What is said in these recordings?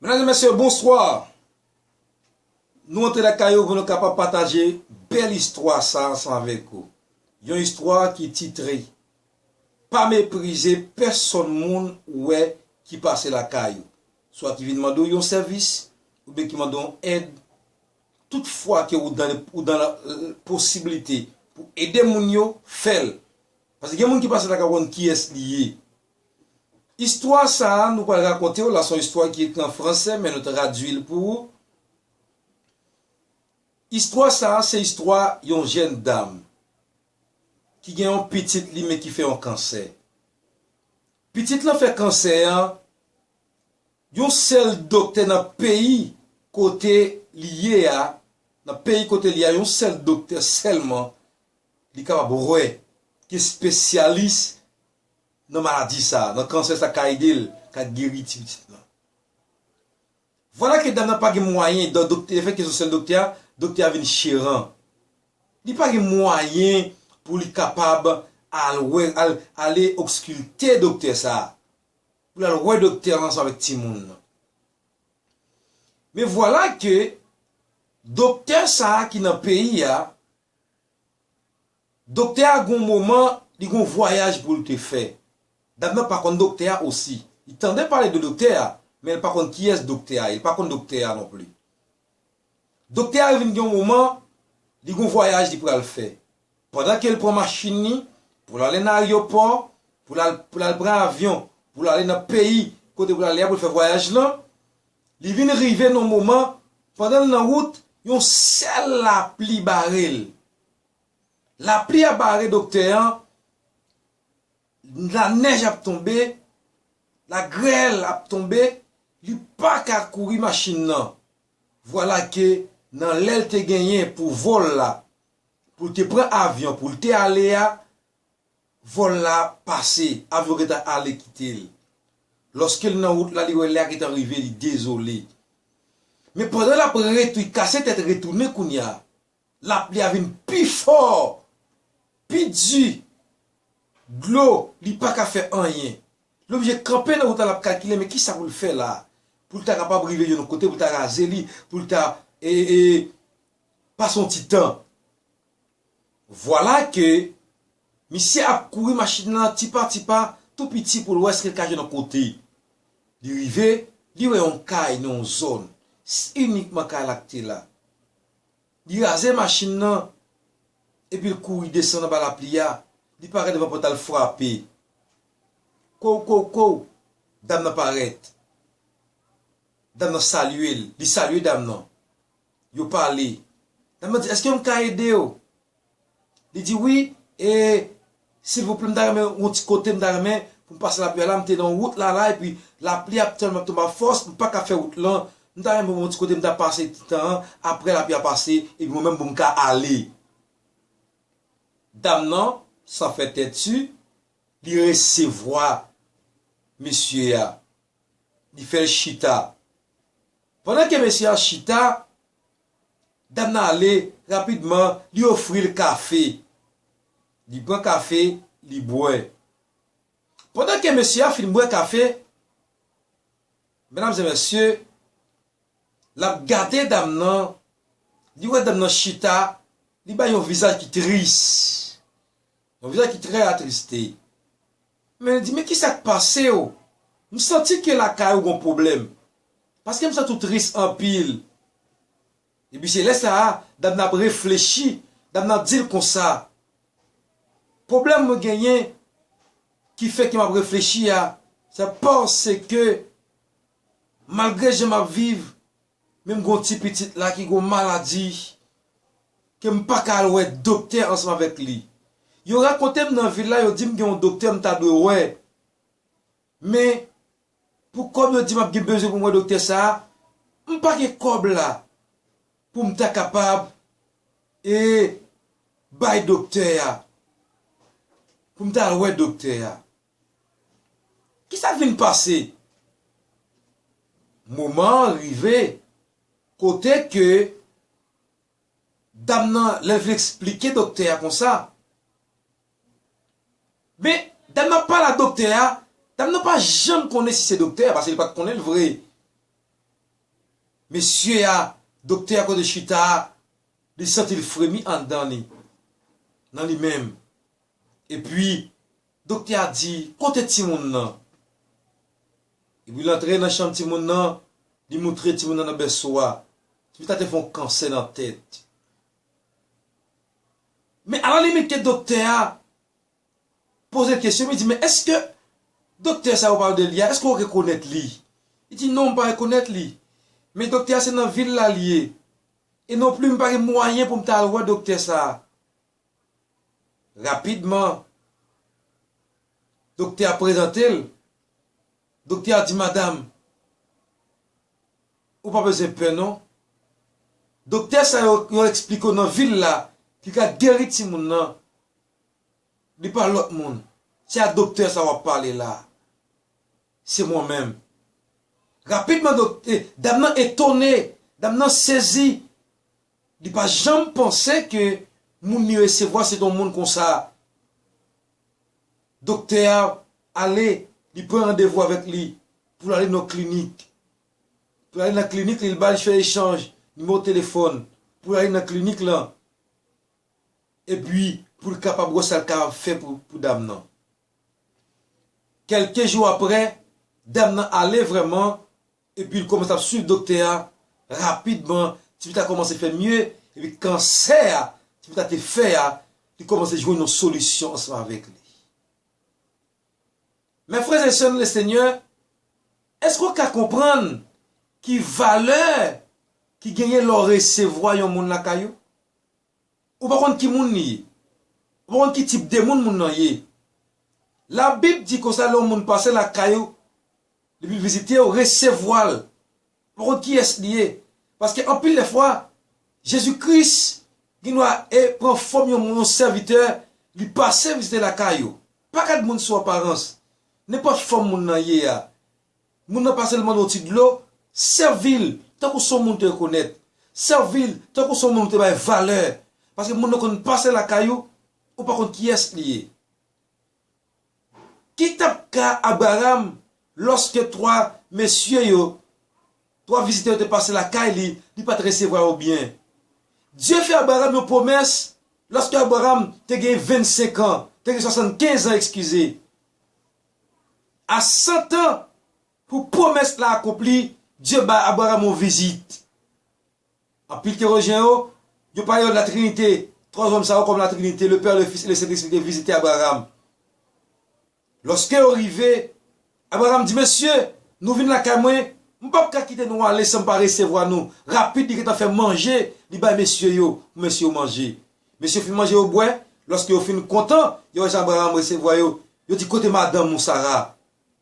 Mesdames et messieurs, bonsoir! Nou antre lakay yo pou nou kapab pataje bèl istwa sa ansanm avèk ou. Yon istwa ki titre Pa meprize pèsòn moun ou wè ki pase lakay ou, swa ki vin mande ou yon sèvis oubyen ki mande ou èd. Tout fwa ke ou dan ou dan la posibilite pou ede moun yo, fè l. Paske gen moun ki pase lakay ou pa konn kiyès li ye. Istwa sa a nou pral rakonte w la se yon istwa ki ekri an franse men nou tradui l pou ou. Istwa sa a se istwa yon jèn dam ki gen yon pitit li men ki fè yon kansè. Pitit lan fè kansè an, yon sèl doktè nan peyi kote li ye a, nan peyi kote li ye a yon sèl doktè sèlman li kapab wè ki espesyalis nan maladi sa, nan kansè sa ka edel ka geri ti pitit lan. Vwala ke dam nan pa gen mwayen dan doktè lefèt ke son sèl doktè a, doktè a vin cheran. Li pa gen mwayen pou li kapab al wè al ale okskulte doktè sa, pou lal wè doktè an ansanm avèk timoun nan. Men vwala ke doktè sa ki nan peyi a Doktè a gon moman li gon vwayaj poul te fè. Dam nan pa konn doktè a osi. Li tande pale de doktè a men li pa konn kiyès doktè a ye li pa konn doktè a non pli. Doktè a vin gen yon moman li gon vwayaj li pral fè. Pandan kel pran machin li poul ale nan aryopò poul al poul al pran avyon poul ale nan peyi kote poul ale a poul fè vwayaj lan. Li vin rive nan moman, pandan l nan wout, yon sèl lapli bare l. Lapli a bare doktè an, lanèj ap tonbe, lagrèl ap tonbe, li pa ka kouri machin nan. Vwala ke nan lè l te genyen pou vòl la, pou l te pran avyon pou l te ale a, Vòl la pase, avyon gentan ale kite l. Lòske l nan wout la, li wè lè a gentan rive, li dezole. Men pandan l ap retwi, kase tèt retounen kounya, lapli a vin pi fò, pi di, dlo, li pa ka fè anyen. Li oblije kanpe nan wout la, l ap kalkile men kisa pou l fè la, pou l ta kapab rive yon kote, pou l ta raze li, pou l ta, e, e, pase yon ti tan. Vwala ke misye ap kouri machin lan ti pa ti pa tou piti pou l wè si l ka jwenn yon kote. Li rive, li wè yon kay nan yon zòn, se inikman kay la k te la. Li raze machin lan, epi l kouri desann anba lapli a, li parèt devan pòt la l frape. Kouw kouw kouw, dam nan parèt. Dam nan salye l, li salye dam nan. yo pale. Dam nan di, èske m ka ede yo? Li di, wi, e, silvouplè, m ta renmen yon ti kote, m ta renmen pou m pase lapli a la, m te nan yon wout la la, epi lapli ap tèlman tonbe ak fòs, m pa ka fè wout lan, m ta renmen pou m gen yon ti kote m ta pase ti tan an, apre lapli a pase, epi mwen menm pou m ka ale. Dam nan, san fè tèti, li resevwa mesye a. li fè l chita. Pandan ke mesye a chita, dam nan ale rapidman li ofri l kafe. Li pran kafe, li bwè. Pandan ke mesye a fin bwè kafe, medam e mesye, l ap gade dam nan, li wè dam nan chita, li bay yon vizaj ki tris, yon vizaj ki trè atriste. Men li di, men kisa k pase w? M santi ke lakay ou gon pwoblèm. Paske m santi w tris anpil. Epi se lè sa a, dam nan ap reflechi, dam nan ap di l konsa, Pwoblèm mwen genyen ki fè ke m ap reflechi a, se paske malgre jan m ap viv, Men m gon ti pitit la ki gon maladi ke m paka al wè doktè ansanm avèk li. Yo rakonte m nan vil la yo di m gen yon doktè m ta dwe wè. Men pou kòb yo di m ap gen bezwen pou m wè doktè sa a, m pa gen kòb la pou m ta kapab e bay doktè a, pou m ta al wè doktè a. Kisa k vin pase? Moman an rive kote ke dam nan lè l vin eksplike doktè a konsa, men dam nan ap pale a doktè a, dam nan pa janm konnen si se doktè a paske li pa t konnen l vre. Mesye a, doktè a kote l chita a, li santi l fremi anndan li, nan li menm. Epi, doktè a di, Kote timoun nan? Epi, l antre nan chanm timoun nan, li moutre timoun nan nan bèso a. Timoun sa te fè yon kansè nan tèt. Men alalimit ke doktè a poze l kesyon, li di, Men èske doktè sa yo pale de li a, èske ou rekonèt li? Li di, Non, m pa rekonèt li. Men doktè a se nan vil la li ye. E non plis m pa gen mwayen pou m ta al wè doktè sa a. Rapidman, doktè a prezante l. Doktè a di madam, ou pa bezwen pè non. Doktè sa yo yo eksplike w nan vil la ki ka geri timoun nan, li pa lòt moun. Se a doktè sa w ap pale la. Se mwen menm. Rapidman dam nan etone, dam nan sezi. Li pa janm panse ke moun li resevwa se t on moun konsa. Doktè a ale, li pran randevou avèk li pou l ale nan yon klinik. Pou l ale nan klinik li, li ba li fè echanj nimewo telefòn pou l ale nan klinik lan epi pou l kapab wè sa l kapab fè pou dam nan. Kèlke jou aprè, dam nan ale vrèman Epi l kòmanse ap swiv doktè a, rapidman ti pita kòmanse fè mye, epi kansè a ti pita te fè a li kòmanse jwenn yon solisyon ansanm avèk li. Mè frè e sè nan le Senyè, èske w ka konprann ki valè ki genyen lè w resevwa yon moun lakay ou? Ou pa konn ki moun li ye. Ou pa konn ki tip de moun moun nan ye. Labib di konsa lè yon moun pase lakay ou, li vin vizite ou, resevwa l. Ou pa konn kiyès li ye. Paske anpil lè fwa, Jezi Kris gen dwa e pran fòm yon moun, yon sèvitè, li pase vizite lakay ou. Pa gad moun sou aparans. Nenpòt fòm moun nan ye a, Moun nan pa sèlman yon ti dlo, Sèvil tankou son moun te rekonèt, sèvil tankou son moun ou te bay valè, paske moun nan konn pase lakay ou, ou pa konn kiyès li ye. Ki t ap ka Abraram lòske twa mesye yo, twa vizitè yo te pase lakay li, li pa t resevwa yo byen? Dye fè Abraram yon pwomès lòske Abraram te gen vennsenkan, te gen swasannkenz an ekskize. a san tan pou pwomès la akonpli, Dye bay Abraram yon vizit. Anpil teyolojyen yo, yo pale yo Latrinite, twa zòm sa yo kòm Latrinite, le Pè, le Fis e le Sentespri te vizite Abraram. Lòske yo rive, Abraram di, Mesye, nou vin lakay mwen, m p ap ka kite nou ale san m pa resevwa nou. Rapid li gentan fè manje, li bay mesye yo, pou mesye yo manje. Mesye fin manje yo bwè, lòske yo fin kontan, yo wè jan Abraram resevwa yo, yo di, Kote madanm ou, Sara?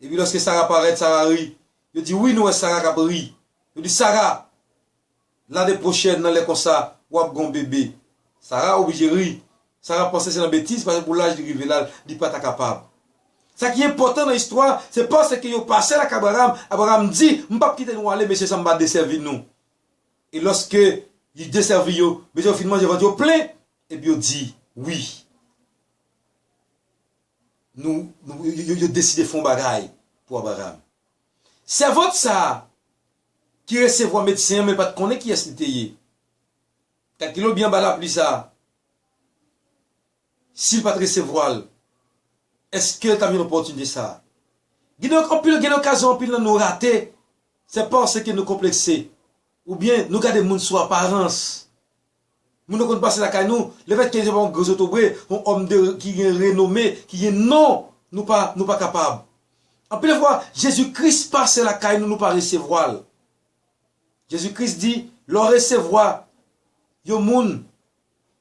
Epi lòske Sara parèt, Sara ri. Yo di, Wi, nou wè Sara k ap ri. Yo di, Sara, lane pwochèn nan lè konsa, w ap gen yon bebe. Sara oblije ri. Sara panse se nan betiz, paske pou laj li rive la, li pa ta kapab. Sa ki enpòtan nan istwa a, se paske yo pase lakay Abraram, Abraram di, M p ap kite nou ale, mesye, san m pa desèvi nou. E lòske li desèvi yo, mete yo fin manje vant yo plen, epi yo di, Wi, nou, nou, yo deside fè yon bagay pou Abraram. Sèvant sa a, ki resevwa medsen an men pa t konnen kiyès li te ye, kalkile w byen anba lapli sa a, Si l pa t resevwa l, èske l t ap jwenn opòtinite sa a? Kidonk, anpil gen okazyon anpil nan nou rate se paske nou konplekse oubyen nou gade moun sou aparans. Moun yo konn pase lakay nou, lefètke se pa yon gwo zotobre, yon òm de ki gen renome, ki gen non, nou pa nou pa kapab. Anpil fwa, Jezi Kris pase lakay nou, nou pa resevwa l. Jezi Kris di, Lè w resevwa yon moun,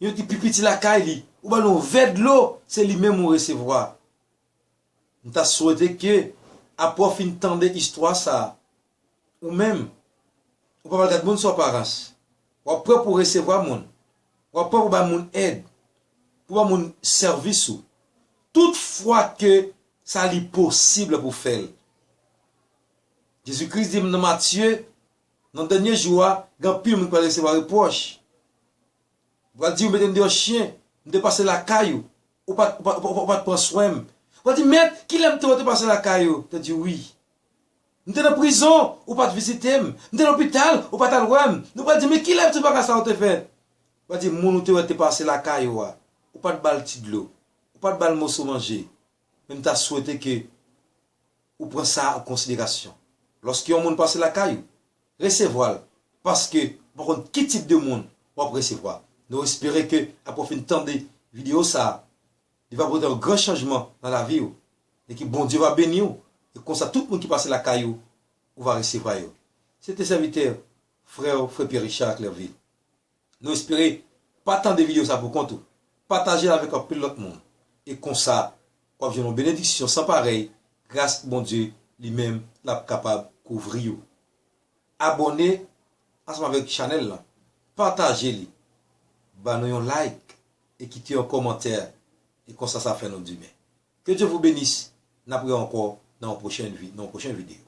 Yo di pi piti lakay li ou ba l yon vè dlo se li menm ou resevwa. M ta swete ke apre w fin tande istwa sa a, ou menm, ou pa pral gad moun sou aparans. W ap prè pou w resevwa moun. W ap prè pou w bay moun èd, pou w bay moun sèvis ou. Tout fwa ke sa li posib pou w fè l. Jezi Kris di m nan Matye Nan dènye jou a, gen anpil moun ki pral resevwa repwòch. Yo pral di, 'Ou mete m deyò chen, m te pase lakay ou, ou pa t pran swen m. Ou pral di, 'Mèt, ki lè m te wè w te pase lakay ou? M te di w, 'Wi. M te nan prizon, ou pa t vizite m. M te lopital, ou pa t al wè m. Nou pral di, 'Men ki lè tout bagay sa yo te fèt? Ou pral di, 'Moun ou te wè te pase lakay ou a, ou pa t ba l ti dlo, ou pa t ba l moso manje. men m ta swete ke ou pran sa an konsiderasyon lòske yon moun pase lakay ou, resevwa l paske ou pa konn ki tip de moun w ap resevwa. Nou espere ke apre w fin tande videyo sa a, li va pote yon gran chanjman nan lavi ou e ke Bondye va beni ou e konsa tout moun ki pase lakay ou, ou va resevwa yo. Se te sèvitè, frè w, frè Pierre Richard Clervil. Nou espere pa tande video sa poukont ou. Pataje l avèk anpil lòt moun e konsa w ap jwenn yon benediksyon san parèy gras Bondye li menm l ap kapab kouvri ou. Abòne ansanm avèk chanèl lan, pataje li, ba nou yon like e kite yon kòmantè e konsa sa fè nou di men. Ke Dye vou benis, n ap re ankò nan yon pwochen video.